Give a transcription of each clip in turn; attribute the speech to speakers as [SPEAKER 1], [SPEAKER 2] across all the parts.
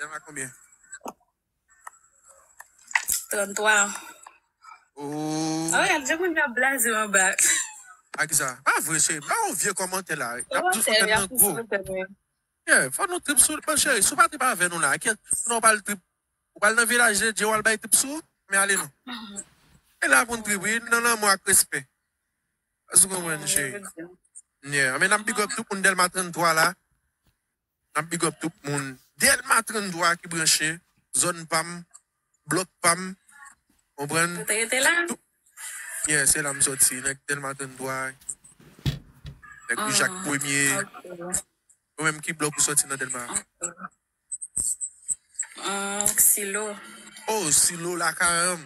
[SPEAKER 1] Yap a
[SPEAKER 2] konbyen?
[SPEAKER 1] 33 an. Ooh. Ah ouais,
[SPEAKER 2] je moun nan blaze an ba.
[SPEAKER 1] A kisa? Pa vre cheri, pa yon vye kòmantè la. Yap toujou fè tèt nan gwo. Yeah, fò nou trip sou bon cheri, si w pa trip avè nou la a kiyès pou nou pral trip? Ou pral nan vilaj de Dieu wal bay trip sou men ale non. E la pou n trip wi, nan lanmou ak respè. Èske w konprann cheri? Yeah, anmwey nap big up tout moun Dèlma 33 la. Map big up tout moun delma 33 ki branche zòn pam blòk pam konprann Ou te rete la? tout
[SPEAKER 2] yeah se
[SPEAKER 1] la m soti nèg delma 33 nèg rue jacques premier Ok ou menm ki blòk ou soti nan delma Hum
[SPEAKER 2] silo oh
[SPEAKER 1] silo lakayanm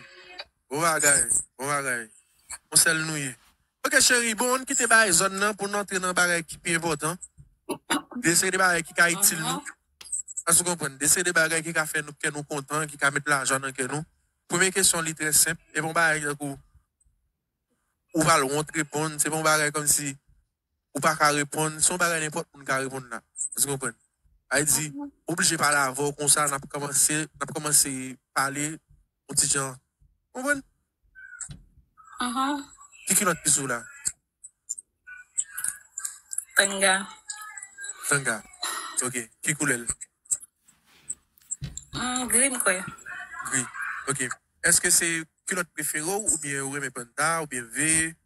[SPEAKER 1] bon bagay bon bagay konsèl nou ye. Ok cheri bon ann kite bagay zòn nan pou n antre nan bagay ki pi enpòtan. De seri de bagay ki ka itil nou. Èske ou konprann? De seri de bagay ki ka fè nou kè nou kontan, ki ka met lajwa nan kè nou. Premye kesyon li trè senp, e pa yon bagay tankou ou pral wont reponn, se pa yon bagay kòmsi ou pa ka reponn, se yon bagay nenpòt moun ka reponn la. Èske ou konprann? Sa vle di, m oblije pale avè w konsa, n ap kòmanse, n ap kòmanse pale. Ou ti jan. Konprann? Ki kilòt ki sou w la?
[SPEAKER 2] Tanga.
[SPEAKER 1] Tanga. Ok. Ki koulè l?
[SPEAKER 2] Gri m kwè. Gri.
[SPEAKER 1] Ok. Eske se kilòt prefere w oubyen ou renmen panta oubyen ve?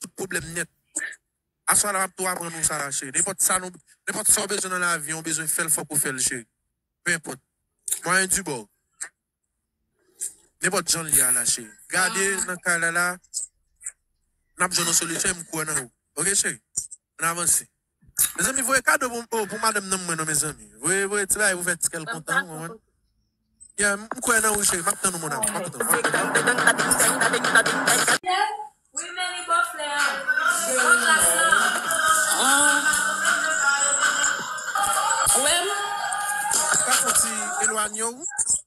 [SPEAKER 1] Tout pwoblèm nèt. Aswa la map tou aprann ou sa cheri. Nenpòt sa nou nenpòt sa ou bezwen nan lavi an ou bezwen fèl fòk ou fèl cheri. Peu importe. Mwayen di baw. Nenpòt janl ye a la cheri. Gade nan kay la la nap jwenn yon solisyon em kwè nan ou. Ok cheri. Ann avanse. Mezanmi voye kado pou oh pou madanm nan mwen non mezanmi. Voye voye ti bagay pou fè ti kèl kontan ou konprann. Yeah m kwè nan ou cheri map tann ou mon amour map tann
[SPEAKER 3] ou.
[SPEAKER 1] Sa fon ti elwanye ou.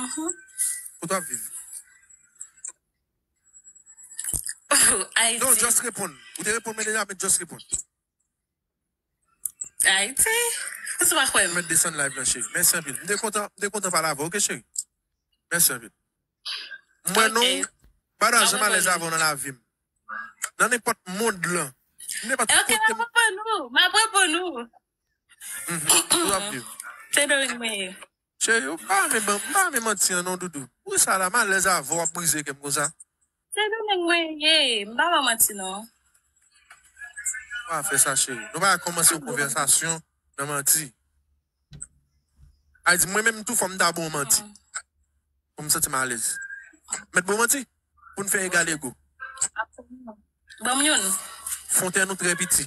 [SPEAKER 1] Uhmm. Kote wap viv?
[SPEAKER 2] Ayiti. Non just reponn.
[SPEAKER 1] Ou te reponn mwen deja men just reponn.
[SPEAKER 2] Ayiti. Ou sou pa kwè m. Mwen desann live lan cheri.
[SPEAKER 1] Mèsi anpil. M te kontan, m te kontan pale avè w ok cheri. Mèsi anpil. M wè nou pa nan janm alèz avè w nan lavi m. Nan nenpòt mond lan. Nan nenpòt kote.
[SPEAKER 2] Ok, m ap reponn ou. M ap reponn ou. Ou ap viv. Se Dorine mwen ye. Cheri ou pa
[SPEAKER 1] renmen ban, ou pa renmen manti an non doudou. Pou sa la m alèz avèw wap brize kèm konsa. Se Dorine
[SPEAKER 2] mwen ye, m pa ban manti non.
[SPEAKER 1] Nou pa fè sa cheri. Nou pa kòmanse yon konvèsasyon nan manti. Ayiti mwen menm tou fò m ta bon manti. Pou m santi m alèz. Mèt bon manti pou n fè egal ego. Absoliman. Banm youn.
[SPEAKER 2] Fontèn ou trè
[SPEAKER 1] piti.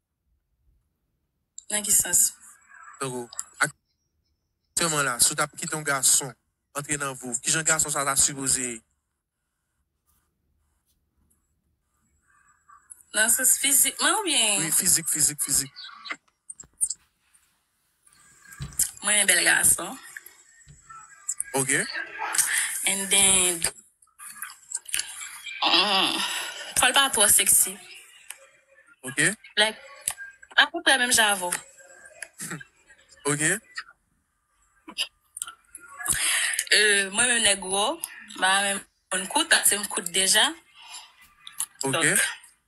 [SPEAKER 2] Nan ki sans? Tankou,
[SPEAKER 1] aktyèman la, si w t ap kite yon gason antre nan vi w, ki jan gason sa a ta sipoze. Nan sans
[SPEAKER 2] fizikman oubyen? Wi, fizik, fizik, fizik. Mwen renmen bel gason.
[SPEAKER 1] Ok.
[SPEAKER 2] And then. Hum. Fòl pa twò sexy.
[SPEAKER 1] Ok.
[SPEAKER 2] Like a peu prè menm jan avè
[SPEAKER 1] w. Ok. Euh
[SPEAKER 2] mwen menm nèg wo, m pa renmen moun kout, ase m kout deja.
[SPEAKER 1] Ok. Donk.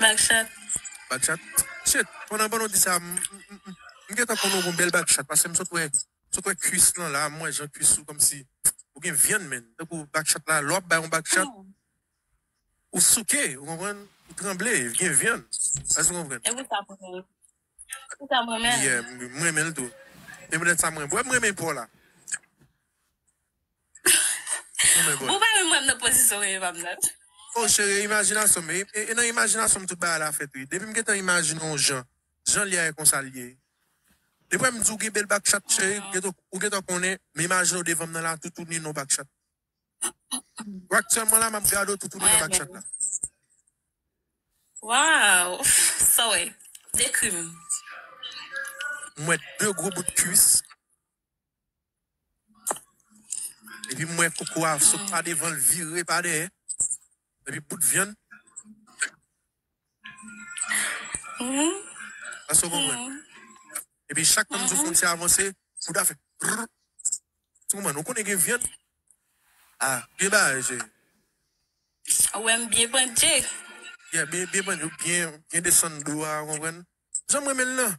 [SPEAKER 2] Backshot. Backshot
[SPEAKER 1] Shit pandan pandan w di sa m m gentan konnen w gon bèl backshot pase m sot wè sot wè kuis lan la m wè jan kuis ou kòmsi ou gen vyann menn tankou backshot la lè w ap bay yon backshot ou souke ou konprann ou tranble li gen vyann èske w konprann Epi sa
[SPEAKER 2] pou mwen Epi sa m renmen l Yeah m renmen l tou
[SPEAKER 1] se poutèt sa m renmen w wè m renmen paw la.
[SPEAKER 2] Ou pa menm wèm nan pozisyon reyim ap nan. Oh chere
[SPEAKER 1] imajinasyon m e nan imajinasyon m tout bagay la fèt wi depi m gentan imajine yon jan jan li a e konsa li ye depi wè m di w gen bèl bak chat cheri ou gentan konnen m imajine w devan m nan la toutouni nan w bak chat ou aktyèlman la m ap gade w toutouni nan bak chat la.
[SPEAKER 2] Waww sa
[SPEAKER 1] w wè dekri m. M wè 2 gwo bout kwis. Epi m wè koko a sot pa devan l vire pa dèyè. Epi bout vyann. Èske w konprann? Epi chak tan m di w fwontyè a vanse, bout a fè prrr. Èske w konprann? Ou konnen gen vyann. A, byen bagay cheri. Ou
[SPEAKER 2] wè m byen pandje. Yeah, byen pandje. Ou byen
[SPEAKER 1] desann do a, ou konprann? Jan m renmen l lan.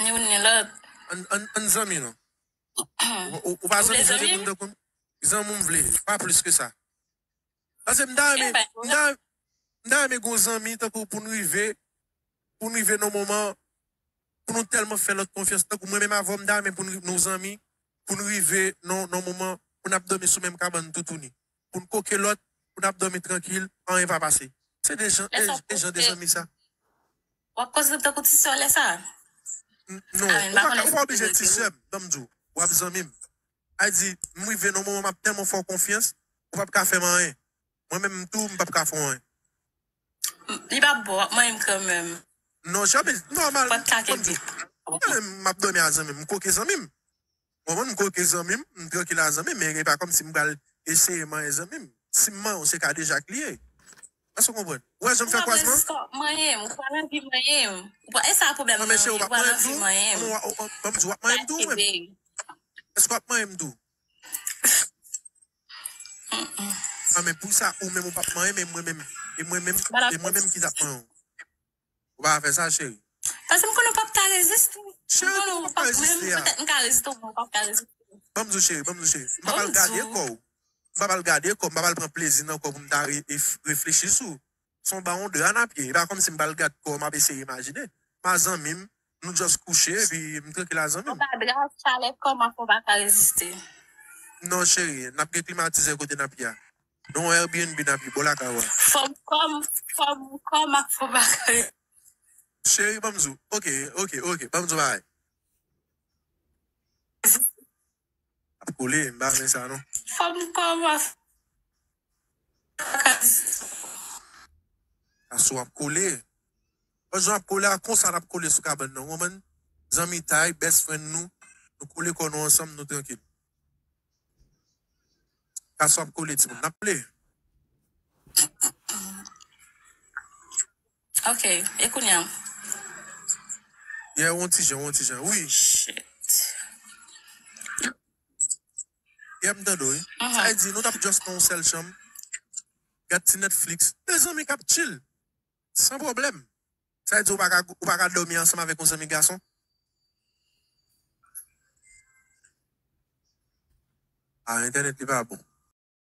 [SPEAKER 2] Ni youn ni lòt. An, an, n zanmi
[SPEAKER 1] non. Ou, ou pa zanmi m pou n tankou n.
[SPEAKER 2] Zanmi w m
[SPEAKER 1] vle, pa plis ke sa. Pase m ta renmen, m ta, m ta renmen gen yon zanmi tankou w pou n rive, pou n rive nan yon moman pou nou tèlman fè lòt konfyans. Tankou mwen menm avè w, m ta renmen pou nou zanmi, pou n rive nan yon moman pou n ap dòmi sou menm kabann toutouni. pou n koke lòt, pou n ap dòmi trankil, anyen pa pase. Se de jan e jan de zanmi sa. W ap
[SPEAKER 2] konsidere m tankou ti sè
[SPEAKER 1] w lè sa a? Non, ou pa oblije ti sè m. Ban m di w, w ap zanmi m. Ay di, m rive nan yon moman m ap tèlman fè w konfyans, ou pap ka fè m anyen. Mwen menm tou, m pap ka fè w anyen.
[SPEAKER 2] Li pa bon, w ap manyen m kanmenm. Non, Sherby,
[SPEAKER 1] nòmal. Ou pa t ka
[SPEAKER 2] kenbe. M ap
[SPEAKER 1] dòmi ak zanmi m, m koke zanmi m. Bon m koke zanmi m, m trankil a zanmi men e pa kòmsi m pral eseye manyen zanmi m. Si m manyen w se kadejak li ye. Èske w konprann? Ou wè jan m fè kwasman an? Ou pa bezwen manyen m. Ou pral
[SPEAKER 2] anvi manyen m. E sa pwoblèm nan an ye. Ou pral anvi
[SPEAKER 1] manyen
[SPEAKER 2] m. Ban m di w, w ap manyen m tou
[SPEAKER 1] ou menm? Èske w ap manyen m tou? Humm. A men pou sa ou menm ou p ap manyen m e mwen menm? E mwen menm ki t ap manyen w? Ou pa fè sa cheri. Pase m konnen w pap
[SPEAKER 2] ka reziste tou. Cheri kòman m ap ka
[SPEAKER 1] reziste a. Petèt m ka reziste w men w pap ka reziste
[SPEAKER 2] m. Ban m di w cheri, ban m di w
[SPEAKER 1] cheri. M pap al gade kò w. M pap al gade kò w. M pap al pran plezi nan kò w pou m ta reflechi sou w. Se yon bawon dra n ap ye. E pa kòmsi m pa al gad kò w m ap eseye imajine. M a zanmi m. Nou just kouche epi m trankil a zanmi m. Anba dra a chalè
[SPEAKER 2] kò m ap fè w pa ka reziste. Non
[SPEAKER 1] cheri, n ap gen klimatize kote n ap ye a. Non Airbnb nap ye bò lakay wa. Fòm kòm
[SPEAKER 2] fòm kòm ak fòm ak. Cheri
[SPEAKER 1] banm di w ok ok ok banm di w bagay. Ap kole m pa renmen sa non. Fòm kòm ak fòm ak a
[SPEAKER 2] distans.
[SPEAKER 1] Ason ap kole. Bon jan ap kole a konsa nap kole sou kabann nan ou konprann. Zanmitay best friend nou nou kole kò nou ansanm nou trankil. Kasou ap kole timoun nap ple.
[SPEAKER 2] Ok e kounya.
[SPEAKER 1] Yeah on ti jan on ti jan wi. Yeah m tande w wi. Sa vle di nou tap just nan yon sèl chanm gad ti netflix 2 zanmi kap chill. San pwoblèm! Sa vle di ou pa ka ou pa ka dòmi ansanm avèk yon zanmi gason? Ah entènèt li pa bon.